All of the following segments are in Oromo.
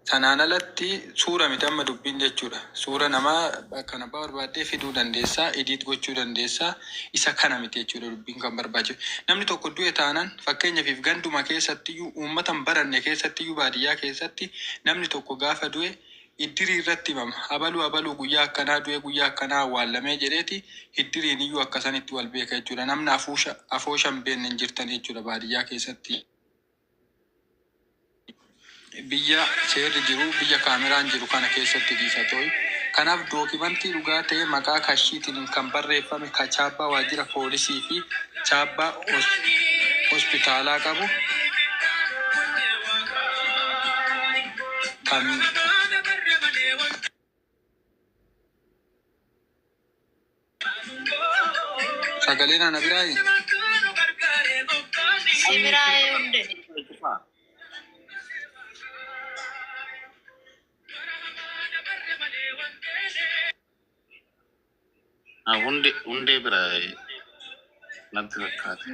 Sanaan alatti suura miti amma dubbiin jechuudha. Suura namaa bakka abbaa barbaaddee fiduu dandeessa, edit gochuu dandeessa. Isa kana miti jechuudha dubbiin kan barbaachisu. Namni tokko du'e taanan fakkeenyafiif ganduma keessattiyyuu uummata hin baranne keessattiyyuu baadiyyaa keessatti namni tokko gaafa du'e iddirii irratti himama. Abaluu abaluu guyyaa akkanaa du'e guyyaa akkanaa awwaallamee jedheeti hiddiriin iyyuu akka sanitti wal beeka jechuudha. Namni afuusha afoosha hin beekne hin jirtan jechuudha baadiyyaa keessatti. Biyya seerri jiru, biyya kaameraan jiru kana keessatti dhiisa toi. Kanaaf dookimantii dhugaa ta'ee maqaa kashiitiin kan barreeffame ka chaappaa waajjira poolisii fi chaappaa hospitaalaa qabu kan Sagalee naa na biraa hii. Simiraaye hunde. Ah, Hundee hundee bira eh, natti fakkaate.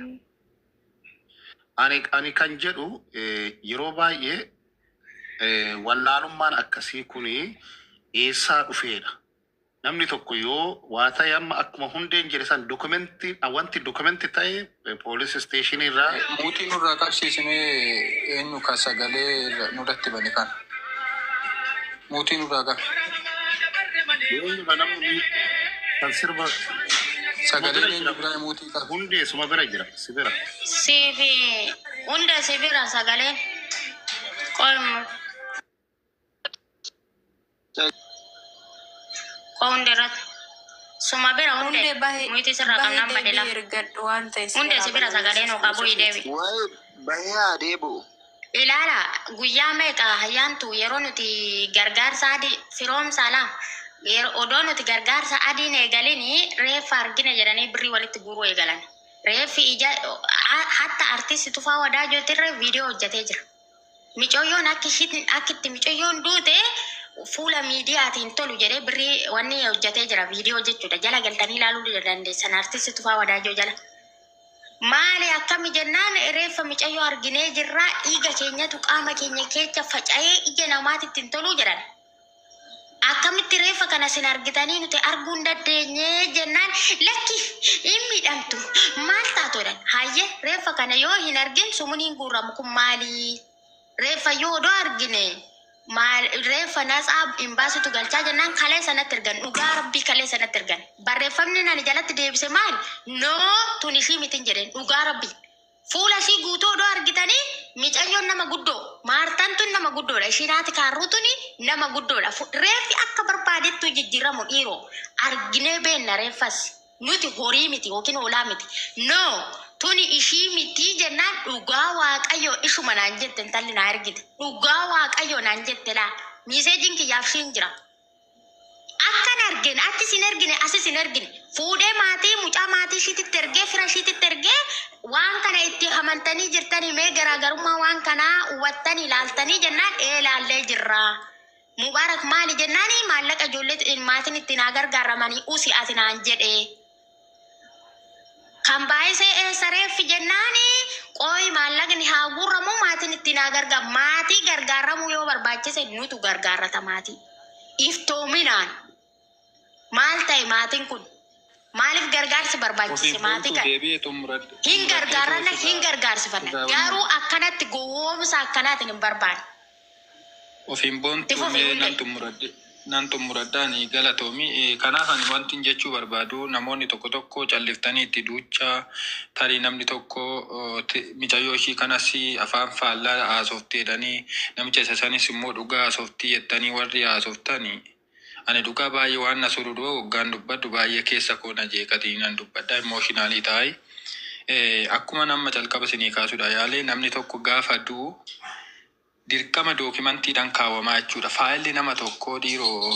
Ani ani kan jedhu eh, yeroo baay'ee eh, wallaalummaan akkasii kuni eessaa dhufeedha. Namni tokko yoo waa ta'e amma akkuma hundeen jedhe san dokumenti wanti dokumenti ta'e poolis isteeshinii irraa Muuxii nurraa qabsiisimee eenyu ka sagalee nurratti bane kana? Muuxii nurraa qab. eenyu ka nama muu- kan sirba suma Sagaleen bira eenyu jira biraa muuxii qab. hundee suma bira jira si bira Siifi hunda si bira sagaleen. Qoy Koo hunde irratti. Suma bira hunde. Hundee bahe Nuti sirraa bahe qabnaan badela. deebii ergadhu waan ta'e si Hunde biraa si bira balleessu sagalee nuu qabu hin deebi'u. Waa'ee bahee haa deebi'u. Ilaala guyyaa meeqa hayyaantu yeroo nuti gargaarsa adii firoomsaa laa yeroo odoo nuti gargaarsa adiin eegalinii reeffa argine jedhanii birrii walitti guuruu eegalan. Reeffi ija a- hatta artisti Tufaa Wadaajootirra viidiyoo hojjetee jira. Micooyyoon akki ishiin akki itti micooyyoon duute fuula miidiyaati hin tolu jedhee birrii wanni hojjetee jira viidiyoo jechuudha jala galtanii ilaaluu dandeessan artisti Tufaa Wadaajoo jala. Maali akkami jennaan reeffa micayyoo arginee jirraa dhiiga keenyatu qaama keenya keecha faca'ee ija namaatitti hin toluu jedhan. Akkamitti reeffa kana isin argitanii nuti arguu hin daddeenye? jennaan, Lakki, hin miidhamtu. Maal taatu? jedhan. Hayyee, reeffa kana yoo hin argin sumuniin guurramu kun maali? Reeffa yoo odoo argine maal reeffa natsaa hin baasitu galchaa jennaan kaleessa natti ergan. Dhugaa Rabbii kaleessa natti ergan. Barreeffamni ani jalatti deebise maali? Noo tun ishii mitin jedheen. Dhugaa Rabbii. Fuula ishii guutuu odoo argitanii micayyoon nama guddoo maartan tun nama guddoodha ishiin haati kaarruu tuni nama guddoodha Fu- reeffi akka barbaadettuu jijjiiramu dhiiroo arginee beenna reeffas nuti horii miti yookiin hoolaa miti no tuni ishii mitii jennaan dhugaa waaqayyoo ishuma naan jette intalli naa ergite dhugaa waaqayyoo naan jette laa miiseejiin kiyyaaf ishiin jira Akkan argen achis hin ergine asis hin ergine fuudhee maatii mucaa maatii ishiititti ergee fira ishiititti ergee waan kana itti hamantanii jirtanii mee garaagarummaa waan kanaa hubattanii ilaaltanii jennaan ee ilaallee jirraa. Mubaarak maali jennaani maallaqa ijoollee maatiin itti naa gargaaramanii usi ati naan jedhee. Kan baay'isee eessa reeffi jennaani qooyi maallaqni haa guurramu maatiin ittiin haa gargaar maatii gargaaramuu yoo barbaachise nutu gargaarrata maatii iftoominaan maal ta'e maatiin kun maaliif gargaarsi barbaachise Ofiif maatii bultuu kana deebi'ee xumuradhu. hin Xumuradhee gargaarranna ta'uu hin isaa gargaarsifanna isaa garuu akkanatti gowwoomsa akkanaatiin hin barbaanne. Of hin boontuu Ifufi mee hundee. nan xumuradhe nan xumuradha ani galatoomi Eh, kanaaf ani wantin jechuu barbaadu namoonni tokko tokko calliftanii itti duucha tarii namni tokko oh, ti- micayyoo ishii kanas afaan faallaa haasofti jedhanii namicha isa sanis immoo dhugaa haasofti jettanii warri haasoftani Ani dhugaa baay'ee waan na sururuu hoggaan dubbadhu baay'ee keessa koo na jeeqatii nan dubbadha emotionally taa'e akkuman amma calqaba isinii kaasudha yaale namni tokko gaafa du'u dirqama dookimantiidhan kaawamaa jechuudha faayilli nama tokkoo dhiiroo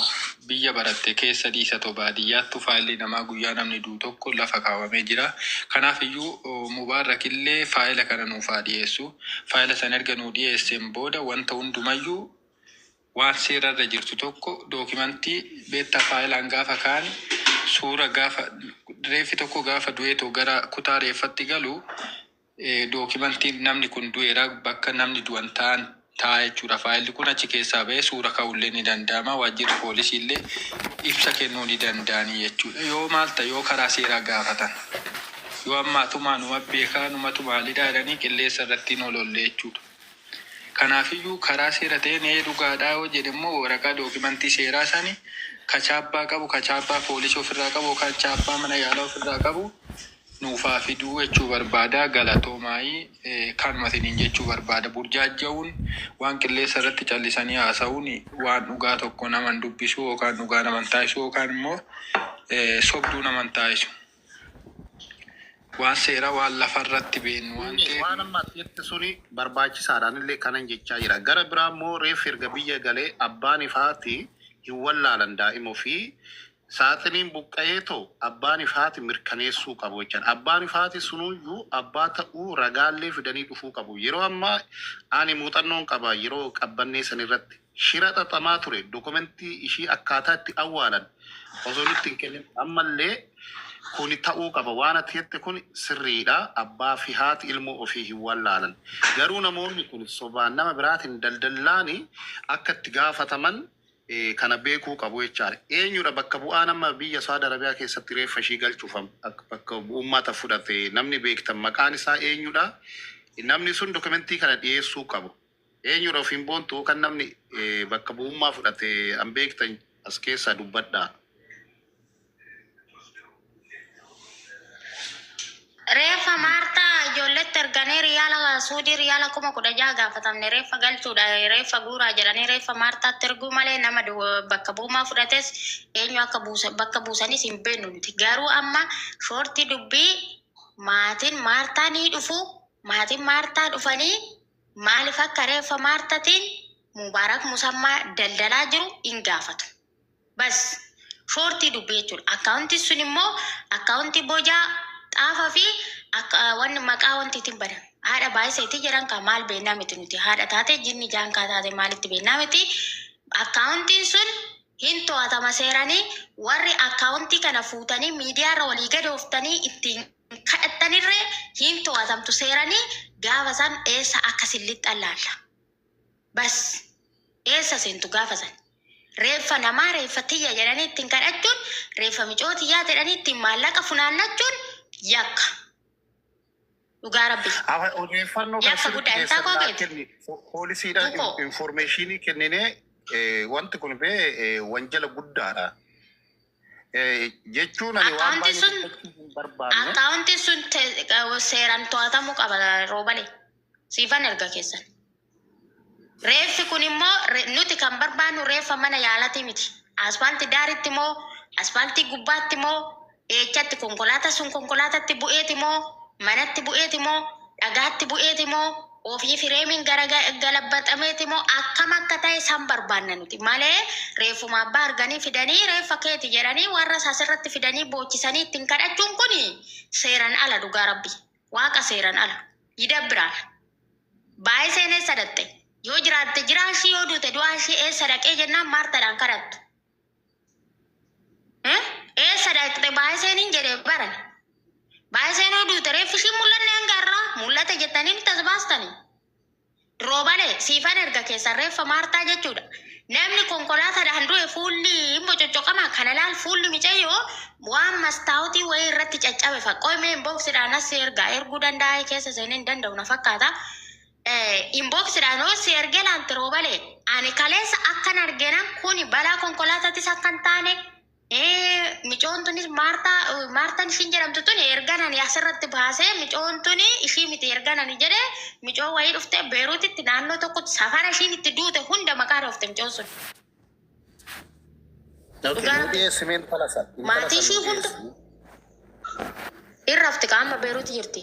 biyya baratte keessa dhiisa too baadiyyaattu faayilli namaa guyyaa namni du'u tokko lafa kaawamee jira kanaaf iyyuu mubaarrak illee faayila kana nuuf haa dhiyeessu faayila san erga nuu dhiyeesseen booda wanta hundumayyuu Waan seera irra jirtu tokko dookimantii beetta faayilaan gaafa kaan suura gaafa reeffi tokko gaafa du'eetoo gara kutaa reeffatti galu dookimantiin namni kun du'eera bakka namni du'an ta'an ta'a jechuudha. Faayilli kun achi keessaa ba'ee suura ka'ullee ni danda'ama. Waajjirri poolisii illee ibsa kennuu ni danda'anii jechuudha. Yoo maal ta'e yoo karaa seeraa gaafatan yoo ammaatumaa numa beekaa numatu maalidhaa jedhanii qilleessa irratti hin olollee jechuudha. Kanaafiyyuu karaa seera ta'een ee dhugaadhaa yoo jedhe immoo waraqaa dookimantii seeraa sani ka chaappaa qabu, ka chaappaa poolisii ofirraa qabu yookaan chaappaa mana yaalaa ofirraa qabu nuuf haa fiduu jechuu barbaada. Galatoomaai kanuma isiniin jechuu barbaada. Burjaajja'uun waan qilleessa irratti callisanii haasa'uun waan dhugaa tokko nama hin dubbisu yookaan dhugaa nama hin taasisu yookaan immoo sobduu nama hin taasisu. Waan seera waan lafa irratti beennu waan Inni waan ta'eef. amma ati jette suni barbaachisaadha anillee kanan jechaa jira. Gara biraa immoo reeffi erga biyya galee abbaaniif haati hin wallaalan daa'ima ofii. Saaxiniin buqqa'eetoo abbaaniif haati mirkaneessuu qabu jechaadha. Abbaaniif haati sunuyyuu abbaa ta'uu ragaallee fidanii dhufuu qabu. Yeroo ammaa ani muuxannoon qaba yeroo qabbannee sanirratti. Shira xaxamaa ture dokumentii ishii akkaataa itti awwaalan osoo nutti hin kennin ammallee kuni ta'uu qaba waan ati jette kuni sirriidha abbaa fi haati ilmoo ofii hin wallaalan garuu namoonni kuni sobaan nama biraatiin daldallaani akka itti gaafataman kana beekuu qabu jechaadha eenyudha bakka bu'aa nama biyya saudi arabia keessatti reeffa ishii galchuuf bakka bu'ummaata fudhate namni beektan maqaan isaa eenyudha namni sun dokumentii kana dhiyeessuu qabu. Eenyudha ofiin boontu kan namni bakka bu'ummaa fudhate an beektan as keessaa dubbadhaa. Reeffa Maartaa ijoolletti erganii riyaala Suudii riyaala kuma kudha jaha gaafatamne reeffa galchuudha reeffa guuraa jedhanii reeffa Maartaatti erguu malee nama bakka bu'ummaa fudhates eenyu akka buusa bakka buusanis hin beeknu nuti garuu amma shoortii dubbii maatiin Maartaa ni dhufu maatiin Maartaa dhufanii Maalif akka reeffa maartatiin mubarak musammaa daldalaa jiru hin gaafatu. Bas. Shoortii dubbii jechuudha. Akkaawuntiin sun immoo akkaawuntii bojaa xaafa fi akka wanni maqaa wantiitiin bana. Haadha baay'iseetii jedhan kaa maal beennaa miti nuti haadha taate jinni jaankaa taate maalitti beennaa miti. Akkaawuntiin sun hin to'atama seeranii warri akkaawuntii kana fuutanii miidiyaarra walii gadooftanii ittiin kadhattanirree hin to'atamtu seerani gaafa san eessa akka sin lixxan laalla bas eessa seentu gaafa san reeffa namaa reeffa tiyya jedhanii ittiin kadhachuun reeffa micoo tiyyaa jedhanii ittiin maallaqa funaannachuun yakka dhugaa rabbi Afa- Odeeffannoo kana Yakka guddaa sirriitti isaa keessan koo naa beektu. kenni. Po- Poolisiidhaan Tokko. in- informeeshinii kenninee eh, wanti kun bee eh, wanjala guddaadha. Eh, jechuun ani waan Akkaawuntiin baay'ee sun- dubbachuu hin barbaanne. Akkaawuntiin sun te- qa- seeraan to'atamuu qaba roobale. Siifan erga keessan. Reeffi kun immoo re- nuti kan barbaannu reeffa mana yaalatii miti. Asfaaltii daaritti moo asfaaltii gubbaatti moo eechatti konkolaataa sun konkolaatatti bu'eeti moo manatti bu'eeti moo dhagaatti bu'eeti moo Ofii fireemiin gara galabbaxameeti moo akkam akka ta'e san barbaanna nuti malee reeffuma abbaa arganii fidanii reeffa keeti jedhanii warras asirratti fidanii boochisanii ittiin kadhachuun kun seeran ala dhugaa rabbi waaqa seeran ala yidabbiraal baayiseen eessa dhaqxe yoo jiraatte jiraashii yoo duute du'aashii eessa dhaqee jennaan maartadhaan kadhattu Eh, eessa dhaqxe baay'iseen hin jedhe bara. Baay'iseen hoo duute reeffi ishii mul'anne hanga har'aa mul'ate jettanii nutti as baastani. Roobalee siifan erga keessan reeffa maartaa jechuudha. Namni konkolaataadhaan du'e fuulli hin bococoqama kana laal fuulli micayyoo waan mastaawutii wayii irratti caccabe faqqoo mee inbooksidhaan as ergaa erguu danda'a keessa seenee hin danda'u na fakkaata. Inbox dhaan hoo si erge laalte roobale. Ani kaleessa akkan argena kuni balaa konkolaatatis akka hin taane micoon tunis maartaa maartan ishiin jedhamtu tuni ergan ani asirratti baasee micoon tuni ishii miti ergan ani jedhe micoo wayii dhufte beeruutitti naannoo tokkotti safara ishiin itti duute hunda maqaa dhoofte micoon sun. Dhugaa rabbi. Dhiyeessime intala sana. Intala Maatii sana ishii hunda dhiyeessine. irrafti qaama beeruuti jirti.